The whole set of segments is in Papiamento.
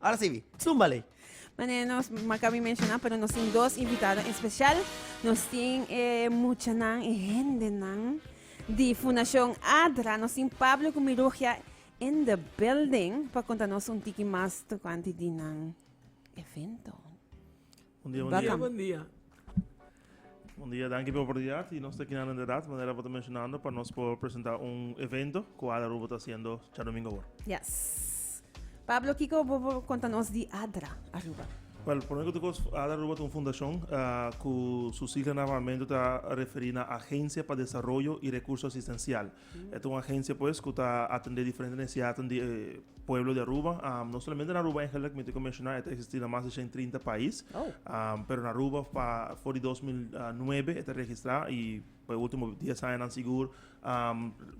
Ora si bi. Zumba lei. Mane nos maka mi mencioná, pero nos tin dos invitado especial. Nos tin e muchanan, e hendenan di Fundacion ADRA. Nos tin Pablo cu Mirugia in the building pa contanos un tiki mas tocante di nan evento. Bon dia, bon dia. Bon dia, bon dia. Bon dia, danki p'e oportunidat. I nos ta aki nan inderdat, manera bo ta menshonando, pa nos por presentá un evento ku Adra Rubo ta hasiendo djadomingo awor. Yes. Pablo, kiko bo por konta nos di Adra Aruba? Wèl, promé ku tur kos, Adra Aruba ta un fundashon ku su sigla na Pabamentu ta referí na Agencia pa Desaroyo i Rekurso Asistensial. E ta un agencia pues cu ta atende diferente necesidadnan di e pueblo di Aruba. No solamente na Aruba Angel like mi tin cu menciona e ta existi na mas di shen trinta pais. Pero na Aruba pa for di dos mil nuebe e ta registra y pa e ultimo dies añanan sigur.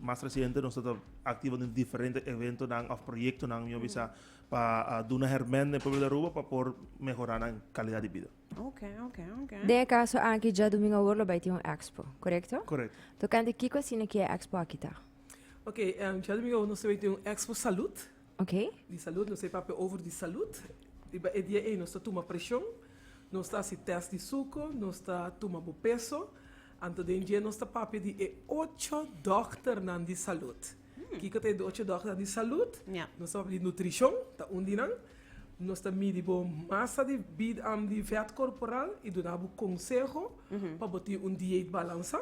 Mas reciente nos ta activo den diferente eventonan of proyectonan mi a bisa pa duna hermen den pueblo di Aruba pa por mehora nan calidad di bida. Den e kaso aki dja dumingo awor lo bai tin un expo, korekto? Correcto. To kende kiko asina ki e expo aki ta? Ok, dja dumingo awor nos ta bai tin un expo salud, Ok, di salud, nos ta bai papia over di salud. Riba e dia ei nos ta tuma preshon, nos ta hasi test di suko, nos ta tuma bo peso. Anto den dje nos ta papia di e ocho dòkternan di salud. Kiko ta e ocho dòkternan di salud? Nos ta papia di nutrishon, ta un di nan. Nos ta midi bo masa di di vèt korporal i duna bo konseho pa bo tin un diet balansá.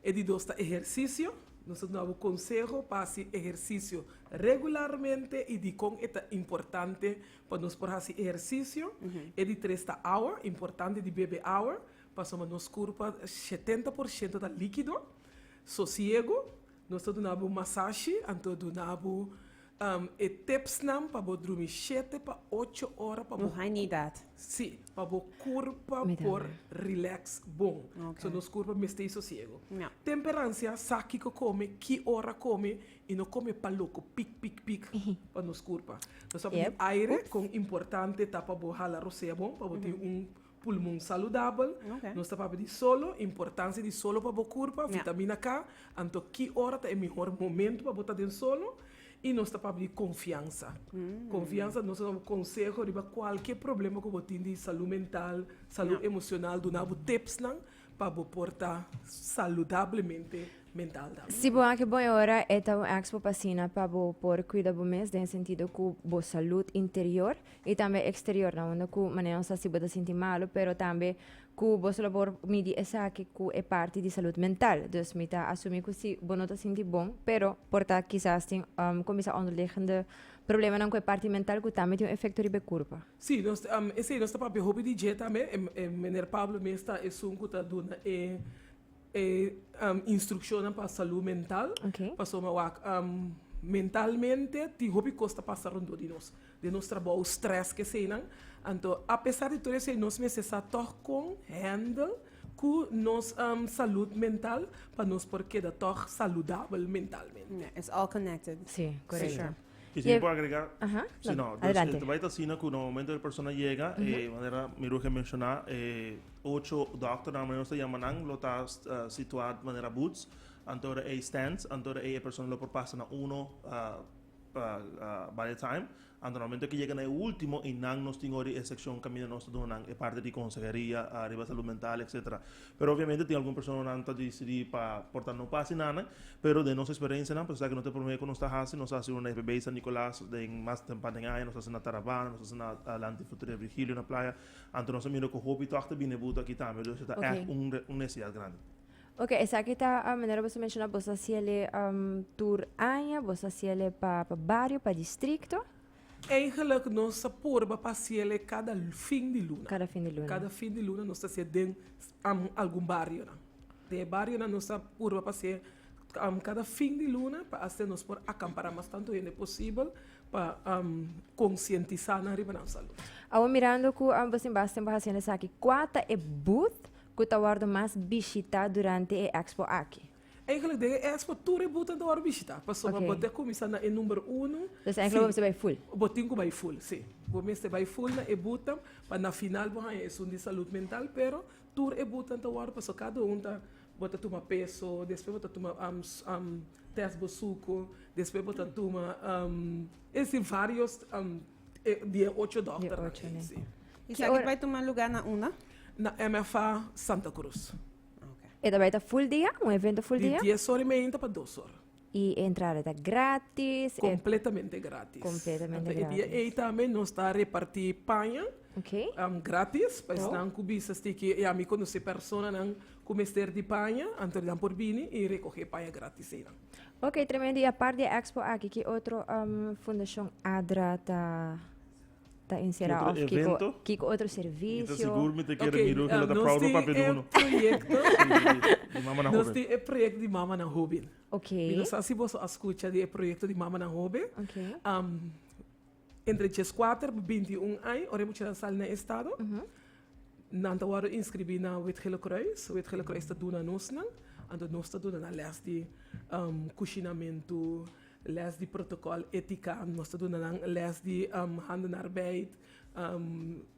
E di dos ta ehersisio. Nos ta duna bo konseho pa hasi ehersisio regularmente i dikon e ta importante pa nos por hasi ehersisio. E di tres ta awa, importante di bebe awa pasobra nos kurpa shetenta por shento ta líkido. Sosiego. Nos ta duna bo masashi, anto duna bo e tipsnan pa bo drumi shete pa ocho ora pa bo. Haña idat. Sí, pa bo kurpa por relax bon. Ok. So nos kurpa mester i sosiego. Ya. Temperansia sa kiko kome, ki ora kome i no kome pa loko pik pik pik pa nos kurpa. Nos tabata di Yep. aire, kon importante ta pa bo hala rosea bon pa bo tin un Pulmon saludabel, Nos ta papia di solo, importancia di solo pa bo curpa, vitamina K, anto ki ora ta e mihor momento pa bo ta den solo, y nos ta papia di confianza. Confianza, nos ta duna bo conseho riba cualkier problema cu bo tin di salud mental, salud emocional, duna bo tipsnan pa bo por ta saludablemente mental tambe. Si bo aki bon e ora, e ta un expo p'asina pa bo por cuida bo mes den e sentido cu bo salud interior i tambe eksteriornan unda ku manera nos ta hasi bo ta sinti malu pero tambe ku boso lo por midi esaki ku e parti di salud mental dus mi ta asumi ku si bo no ta sinti bon pero por ta kisas tin kuminsá onderliggende problemanan ku e parti mental ku tambe tin un efekto riba e kurpa. Sí, nos esei nos ta papia hopi di dje tambe, e meneer Pablo mes ta esun ku ta duna e. E instrukshonnan pa salú mental. Pasobra mi a wak mentalmente tin hopi kos ta pasa rondó di nos. Den nos trabou, strès, keseinan. Anto apesar di tur esei nos mester sa tòg kon hèndel ku nos salut mental pa nos por keda tòg saludabel mentalmente. Si, korekto. Kico mi por agrega? Aha, Sí, no, dus adelante. e bai ta asina ku na momento e persona yega, e manera mi Ruge a menshoná, e ocho dòkter nan manera nos ta yama nan lo ta s- ah, situá manera boots, anto ora ei stands, anto ora ei e persona lo por pasa na uno, ah, pa, ah, by a time, anto na momento ke yega na e último i nan nos tin ho'ri e sekshon kaminda nos ta duna nan e parti di konseheria, ah, riba salud mental, etsetera. Pero obviamente tin algun personanan ta disidí pa por ta no pasi nada, pero den nos experencianan pues esaki no ta e prome cu nos ta haci, nos a haci una FB San Nicolas den mas tempa den aña, nos a haci na Tarabana, nos a haci na Adelante Futré Virgilio na playa, anto nos a mira cu hopi tog ta bini e buta aki tambe, dus esta Okay. echt un un necesidad grandi. Ok, esaki ta ah, manera boso menciona, boso hasiele em, tur aña, boso hasiele pa, pa bario, pa distrito. Eigenlijk nos ta purba pa hasiel e cada fin di luna. Cada fin di luna. Cada fin di luna nos ta hasiel den algun barionan. Den e barionan nos ta purba pa hasiel cada fin di luna pa asina nos por acampara mas tanto hende posibel pa concientisa nan riba nan salud. Awo mirando cu bo tin basta tempo haciendo esaki, cua ta e booth cu ta wordo mas bishita durante e expo aki? Enkele den e expo tur e buta ta wòrdu bishitá, pasobra bo ta kuminsá na e number unu, Entonces enkele bo mester bai full. Sí, bo tin ku bai full, sí. Bo mester bai full na e buta pa na final bo haña esun di salud mental, pero tur e buta ta wòrdu pasobra kada un ta, bo ta tuma peso, despues bo ta tuma tèst bo suku, despues bo ta tuma, es di vários di e ocho dòkternan ei, sí. I esaki ta bai tuma lugá na unda? Na MFA Santa Cruz. E ta beta full dia? Un evento full dia? Di dies ora y media ta pa dos ora. Y e entrada ta gratis? Completamente gratis. Completamente gratis. Enta e dia ey tambe nos ta reparti paña okay. um, gratis pa esnan cu bisa stiki y ami conoce personanan cu mester di paña, anto nan por bini y recoge paña gratis eynan. Ok, tremendo. Y apart di e expo aki, ki otro um, Fundacion ADRA ta Ta encerá Otro òf kiko evento? kiko otro Mi ta servisio? sigur mi ta kere mira hopi la ta proud papia di uno. Nos tin e proyekto, Di Mamanan nos Hoben. tin e proyekto di Mamanan Hoben. Ok. Mi no sa si boso a skucha di e proyekto di Mamanan Hoben. Ok. Entre djes kuater pa binti i un aña, ora e muchanan sali na e estado, nan ta wòrdu inskribí na Wit-Gele Kruis. Wit-Gele Kruis ta duna nos nan, anto nos ta duna nan lès di kushinamentu. Les di protokòl étika, nos ta duna nan les di handen arbeid,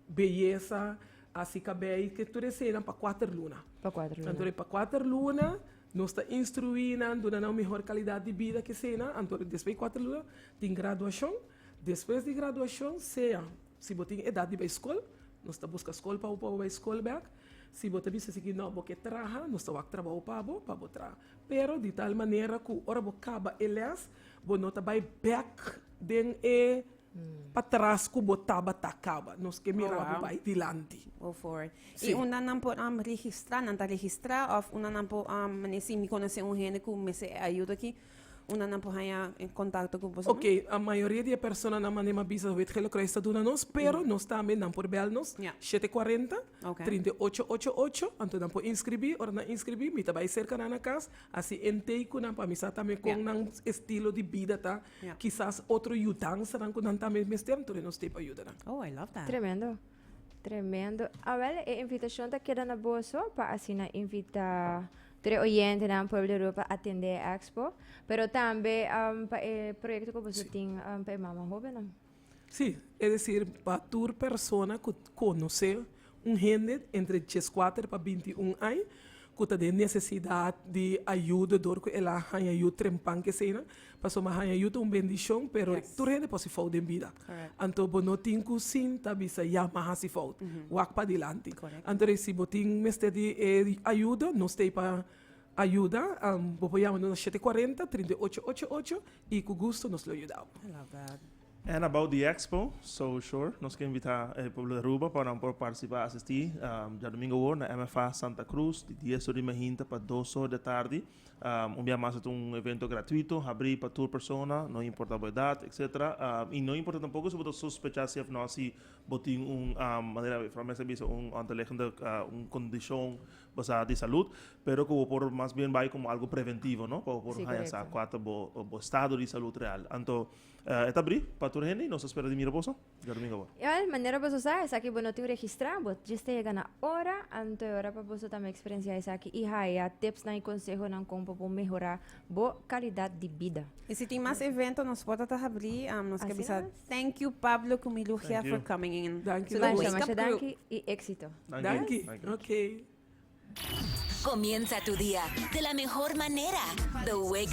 beyesa, hasi kabei, ke tur eseinan pa kuater luna. Pa kuater luna. Anto pa kuater luna nos ta instruí nan, duna nan un mihor kalidat di bida ke eseinan. Anto despues di kuater luna tin graduashon. Despues di graduashon sea si bo tin edat di bai skol, nos ta buska skol pa bo pa bo bai skol bèk. Si bo ta bisa esei ke nò, bo ke traha, nos ta wak trabou pa bo, pa bo traha. Pero di tal manera ku ora bo kaba e lès, bo no ta bai bèk den e patras ku bo tabata kaba. Nos ke mira bo bai dilanti. I unda nan por registrá? Nan ta registrá òf unda nan por menei si mi konosé un hende ku mester e ayuda akí? Unanan por haña kontakto ku boso? Oke, a mayoria di e personanan manda e mabisa, wet ke lo Krais ta duna nos, pero nos tambe, nan por bèl nos Ya. shete kuarenta, Oke. trinta i ocho ocho ocho, anto nan por inskribí. Ora nan inskribí, mi ta bai serka nan na kas, a si entei ku nan pa mi sa tambe kon Ya. nan estilo di bida ta, Ya. kisas otro yudansanan ku nan tambe mester, anto nos stei pa yuda nan. Oh, I love that. Tremendo. Tremendo. Awel, e invitacion ta keda na boso pa asina invita tre oyentenan Pueblo de Europa atende e expo, pero tambe um, pa e proyecto ku boso tin um, pa e mama hobennan. Sí, es decir, pa tur persona ku konosé un hende entre dieskuater pa bintiún ai ku ta den nesesidat di ayuda dor ku el a haña yu trempan ke eseinan, Pasobra mi haña yu ta un bendishon, pero tur hende por hasi fout den bida. Anto bo no tin ku sin ta bisa, ya, mi a hasi fout. Wak padilanti. Anto de ahí si bo tin mester di e ayuda, nos ta ei pa ayuda. Bo por yama nos na shete kuarenta, trinta i ocho ocho ocho i ku gusto nos lo yuda bo. And about the expo, so sure nos ke invita e pueblo di Aruba pa nan por participa asisti djadumingu awor na MFA Santa Cruz di dies ora di mijinta pa dos ora di atardi. Un bia mas ta un evento gratuito, habrí pa tur persona, no importa bo edat, etc. I no importa tampoko si bo ta sospecha si òf no si bo tin un, manera e Fran Mester a bisa, un onderliggende kondishon basá di salùt, pero ku bo por mas bien bai komo algu preventivo, no? Pa bo por haña sa kua ta bo estado di salùt real. Anto e ta abrí pa tur hende i nos ta spera di mira boso. Yo domingo bo. Igual manera boso sa esaki bo no tin registra bo just a yega na ora anto e ora pa boso tambe experiencia esaki y haya tipsnan y consehonan con pa bo mehora bo calidad di bida. Y si tin mas evento nos porta ta habri nos ke Asina bisa mes. thank you Pablo cu mi Lugia Thank you. for coming in Danki to the Masha Wake masha Up Crew. danki y exito. Danki. Danki. Danki. Okay. Comienza tu día de la mejor manera. The Wake